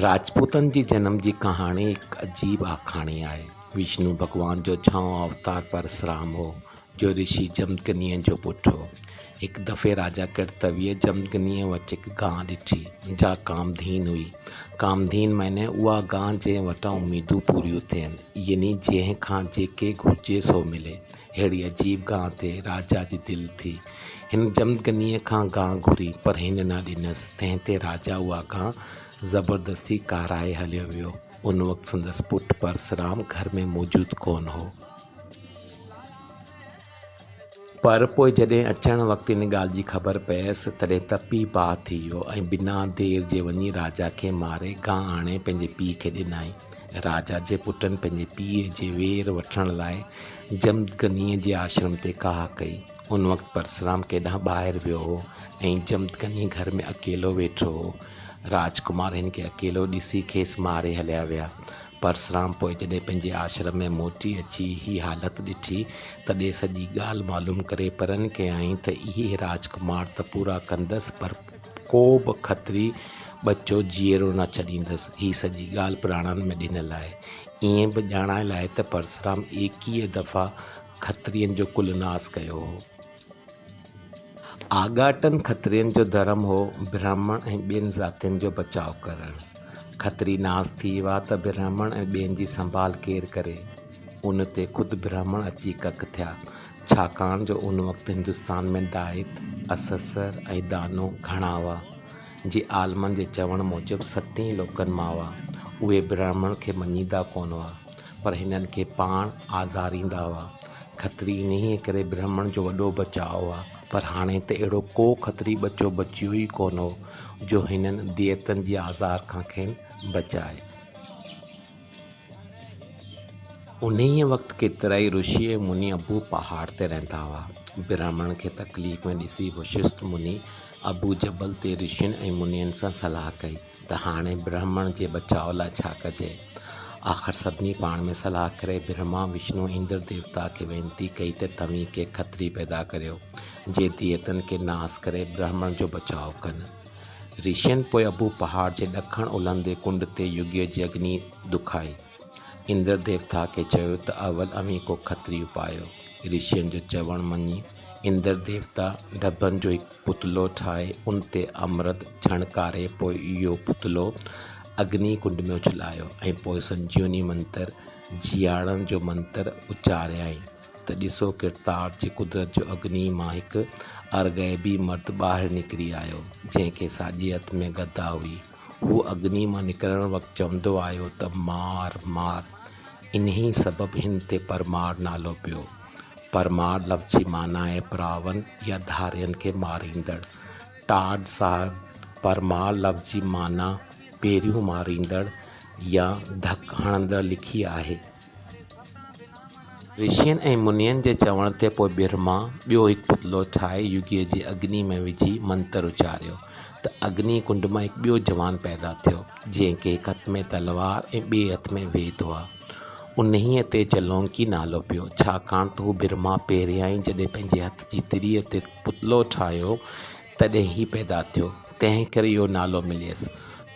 راجپوتن جي جنم جي ڪهاڻي هڪ عجيب آکاڻي آهي. وشنو ڀڳوان جو ڇهون اوتار پرسرام هو، جو رشي جمدگنيء جو پٽ هو. هڪ دفعي راجا ڪرتويء جمدگنيء وٽ هڪ گانء ڏٺي، جا ڪامڌين هئي. ڪامڌين معني اها گانء جنهن وٽان اميدون پوريون ٿين، يعني جنهن کان جيڪي گهرجي سو ملي. اهڙي عجيب گانء تي راجا جي دل ٿي. هن جمدگنيء کان گانهه گهري، پر هن نه ڏنس، تنهن تي راجا اها گانهه زبردستي ڪارائي هليو ويو. ان وقت سندس پٽ پرسرام گهر ۾ موجود ڪونه هو. پر پوء جڏهن اچڻ وقت ان ڳالهه جي خبر پيس، تڏهن تپي باهه ٿي ويو ۽ بنا دير جي وڃي راجا کي ماري گانهه آڻي پنهنجي پيء کي ڏنائين. راجا جي پٽن پنهنجي پيء جي وير وٺڻ لاء جمدگنيء جي آشرم تي ڪاهه ڪئي. ان وقت پرسرام ڪيڏانهن ٻاهر ويو هو ۽ جمدڪني گهر ۾ اڪيلو ويٺو هو. راجڪمار هن کي اڪيلو ڏسي کيس ماري هليا ويا. پرسرام پوء جڏهن پنهنجي آشرم ۾ موٽي اچي هي حالت ڏٺي، تڏهن سڄي ڳالهه معلوم ڪري پرن ڪيائين ته اهي راجڪمار ته پورا ڪندس پر ڪوبه کتري ٻچو جيئرو نه ڇڏيندس. هي سڄي ڳالهه پراڻن ۾ ڏنل آهي. ائين به ڄاڻايل آهي ته پرسرام ايڪيهه دفعا کترين جو ڪل ناس ڪيو هو. آڳاٽن کترين جو ڌرم هو برهمڻ ۽ ٻين ذاتين جو بچاء ڪرڻ. کتري ناس ٿي ويا ته برهمڻ ۽ ٻين جي سنڀال ڪير ڪري؟ ان تي خود برهمڻ اچي ڪڪ ٿيا، ڇاڪاڻ جو ان وقت هندستان ۾ دائت، اسسر ۽ دانو گهڻا هئا، جي عالمن جي چوڻ موجب ستين لوڪن مان هئا، اهي برهمڻ کي مڃيندا ڪونه هئا. پر هنن کي پاڻ آزاريندا هئا. کتري انهيء ڪري برهمڻ جو وڏو بچاء هئا. پر هاڻي ته اهڙو ڪو کتري ٻچو بچيو ئي ڪونه هو، جو هنن ديئتن جي آزار کان کين بچائي. انهيء وقت ڪيترائي رشي ۽ مني ابو پهاڙ تي رهندا هئا. برهمڻ کي تڪليف ۾ ڏسي وشسٽ مني ابو جبل تي رشين ۽ منين سان صلاح ڪئي. ته هاڻي برهمڻ جي بچاء لاء ڇا ڪجي؟ آخر سڀني پاڻ ۾ صلاح ڪري برهما، وشنو، اندر ديوتا کي وينتي ڪئي ته توهين ڪي کتري پيدا ڪريو، جي ديتن کي ناس ڪري برهمڻ جو بچاء ڪن. رشين پوء اڀو پهاڙ جي ڏکڻ اولهندي ڪنڊ تي يوگيء جي اگني دکائي. اندر ديوتا کي چيو ته اول اوهين ڪو کتريون پايو. رشين جو چوڻ مڃي اندر ديوتا ڍڀن جو هڪ پتلو ٺاهي ان تي امرت ڇڻڪاري پوء اهو پتلو اگني ڪنڊ ۾ اڇلايو ۽ پوء سنجيوني منتر، جيئاڻڻ جو منتر، اچاريائين ته ڏسو ڪرتار جي قدرت جو اگني مان هڪ ارغيبي مرد ٻاهر نڪري آيو، جنهن کي ساڄي هٿ ۾ گدا هئي. هو اگني مان نڪرڻ وقت چوندو آيو ته مار، مار، انهيء سبب هن تي پرمار نالو پيو. پرمار لفظ جي معنيٰ آهي پراون يا ڌارين کي ماريندڙ. ٽاڊ صاحب، پرمار لفظ جي معنيٰ پيريون ماريندڙ يا ڌڪ هڻندڙ لکي آهي. رشين ۽ منين جي چوڻ تي پوء برهما ٻيو هڪ پتلو ٺاهي يوگيء جي اگنيء ۾ وجهي منتر اچاريو ته اگني ڪنڊ مان هڪ ٻيو جوان پيدا ٿيو جنهن کي هڪ هٿ ۾ تلوار ۽ ٻئي هٿ ۾ ويد هئا. انهيء تي جلونڪي نالو پيو، ڇاڪاڻ ته هو برهما پهريائين جڏهن پنهنجي هٿ جي تريء تي پتلو ٺاهيو تڏهن هي پيدا ٿيو، تنهن ڪري اهو نالو مليس.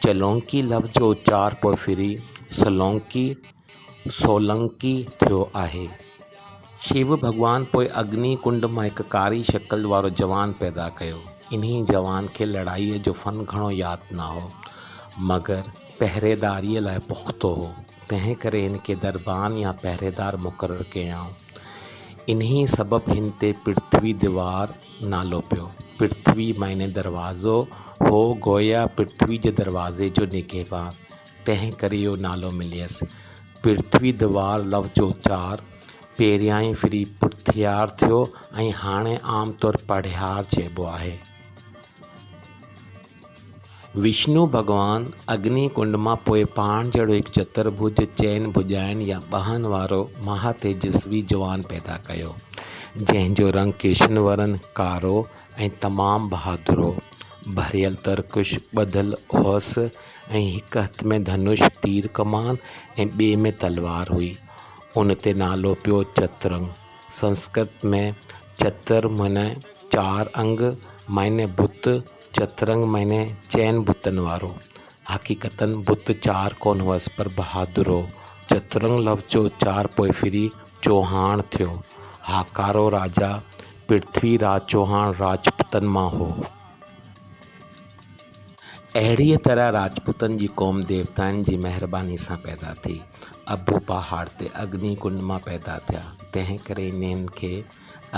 جلونڪي لفظ جو اچار پوء ڦري سلونڪي، سولنڪي ٿيو آهي. شيو ڀڳوان پوء اگني ڪنڊ مان هڪ ڪاري شڪل وارو جوان پيدا ڪيو. انهيء جوان کي لڙائيء جو فن گهڻو ياد نه هو، مگر پهريداريء لاء پختو هو، تنهن ڪري هن کي دربان يا پهريدار مقرر ڪيائون. انهيء سبب هن تي پرٿوي دوار نالو پيو. پرٿوي معني دروازو هو، گويا پرٿوي جي دروازي جو نگهبان. تنهن ڪري اهو نالو مليس. پرٿوي دوار لفظ جو اچار پهريائين ڦري پرٿيار ٿيو ۽ هاڻي عام طور پڙهيار چئبو آهي. وشنو ڀڳوان اگني ڪنڊ مان پوء پاڻ جهڙو هڪ چترڀج، چئن ڀڄائن يا ٻانهن وارو، مها تيجسوي جوان پيدا ڪيو، جنهن جو رنگ ڪرشن ورن، ڪارو، ۽ تمام بهادرو، ڀريل ترڪش ٻڌل هئس ۽ هڪ هٿ ۾ ڌنوش، تير ڪمان، ۽ ٻئي ۾ تلوار هئي. ان تي نالو پيو چترنگ. سنسڪرت ۾ چتر معني چار انگ معني بت، چترنگ معني چئن بتن وارو. حقيقتاً بت چار ڪونه هئس پر بهادرو، چترنگ لفظ جو اچار پوء ڦري چوهاڻ ٿيو. هاڪارو راجا پرٿوي راج چوهاڻ راجپوتن مان هو. اهڙيء طرح راجپوتن جي قوم ديوتائن جي مهربانيء سان پيدا ٿي. اڀو پهاڙ تي اگني ڪنڊ مان پيدا ٿيا، تنهن ڪري انهن کي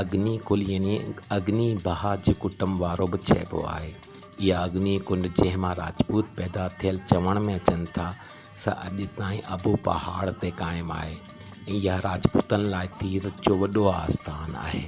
اگني ڪل يعني اگني بها جي ڪٽنب وارو به چئبو آهي. اها اگني ڪنڊ جنهن مان راجپوت پيدا ٿيل چوڻ ۾ اچن ٿا، سا اڄ تائين ابو پهاڙ تي قائم آهي ۽ اها راجپوتن لاء تيرٿ جو وڏو آستان آهي.